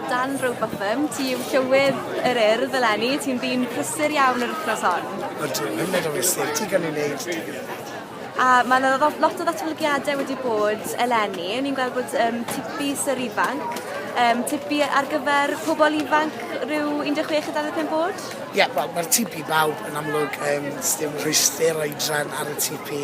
Dan Rowbotham, ti yw llywydd yr urdd eleni, ti'n ddyn prysur iawn yr wythnos hon. Ydw, yn meddwl i sir, ti gan ei wneud A mae yna lot o ddatblygiadau wedi bod eleni. Ni'n gweld bod um, tipi syr ifanc, um, tipi ar gyfer pobl ifanc rhyw 16 a 25 bod? Ie, yeah, wel, mae'r tipi bawb yn amlwg, um, sdim rhwyster oedran ar y tipi.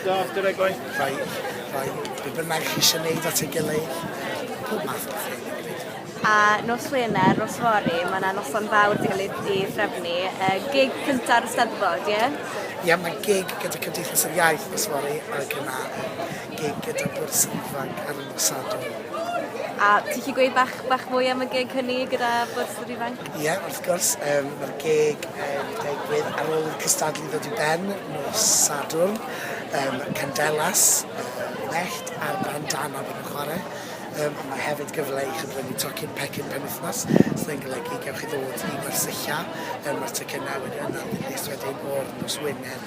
Stop, dyna gwaith. Rhai, rhai, be bynnag chi eisiau gwneud at ei gilydd, pob math o bethau. A nos Wener, nos fory, mae yna noson fawr di cael ei threfnu. Uh, gig cynta'r Ysteddfod, ie? Yeah? Ie, yeah, mae gig gyda Cymdeithas yr Iaith nos fory, ac yna gig gyda bwrs ifanc ar y nos Sadwrn. A ti chi gweud bach, bach mwy am y gig hynny gyda bwrs yr ifanc? Ie, wrth gwrs, yym ma'r geg yn digwydd ar ôl i'r cystadlu ddod i ben nos Sadwrn, yym Candelas, yy mellt a'r bandana fydd yn chware, yym ond ma' hefyd gyfle i chi brynu tocyn pecyn penwythnos sydd yn golygu gewch chi ddod i Gwersylla, yym ma'r tocynne wedyn yn arddulus wedyn o'r nos Wener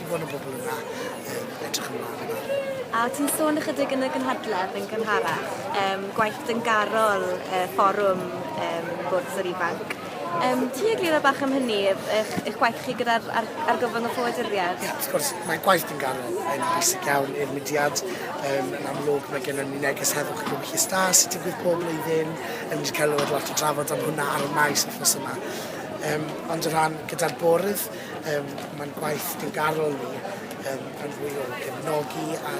Bod y bobl yna yn edrych ymlaen yna. A ti'n sôn ychydig yn y gynhadledd yn gynharach, um, gwaith dyngarol uh, fforwm um, gwrs yr ifanc. Um, ti egluro bach am hynny, eich, eich gwaith chi gyda'r ar, argyfwng y ffoaduriaid? Ie, yeah, wrth gwrs, mae gwaith yn garol yn bwysig iawn i'r mudiad. Um, yn amlwg, mae gen ni neges heddwch yn Lwchus Da sy'n digwydd pob blwyddyn. Yn wedi cael lot o drafod am hwnna ar y maes wythnos yma. Um, ond o ran gyda'r bwrdd, Um, Mae'n gwaith diwgarol ni um, yn fwy o gefnogi a,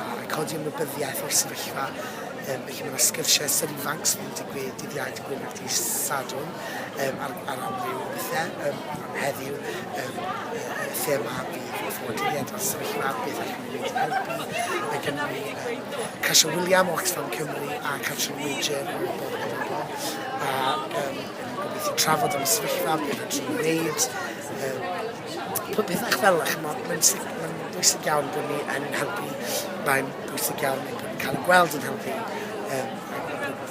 a codi ymwybyddiaeth o'r sefyllfa um, felly mae'n sgyrsiau sy'n ifanc sy'n mynd i gwe dydd Iau, dydd Gwener, dydd Sadwn um, ar, ar amryw o bethau. Um, am heddiw, um, y thema bydd ffoaduriaid o'r sefyllfa, beth allwn ni wneud i helpu. Mae gennym ni um, Casio William o Oxfam Cymru a Catrin Major o Bob Gymru. A um, gallu trafod am y sefyllfa, be fedrwn ni wneud, um, pob peth fel yna, chymod, mae'n mae bwysig iawn bod ni yn helpu, mae'n bwysig iawn bod ni'n cael ei gweld yn helpu um,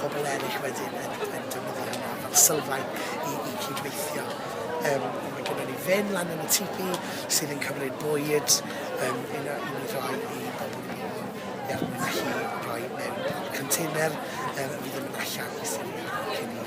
pobl eraill wedyn yn, yn defnyddio hynna fel sylfaen i, i cydweithio. Um, mae gennym ni fen lan yn y tipi sydd yn cymryd bwyd um, un o'r un roi i bobl i bobl er mwyn i chi roi mewn container um, fydd yn mynd allan i syni cyn i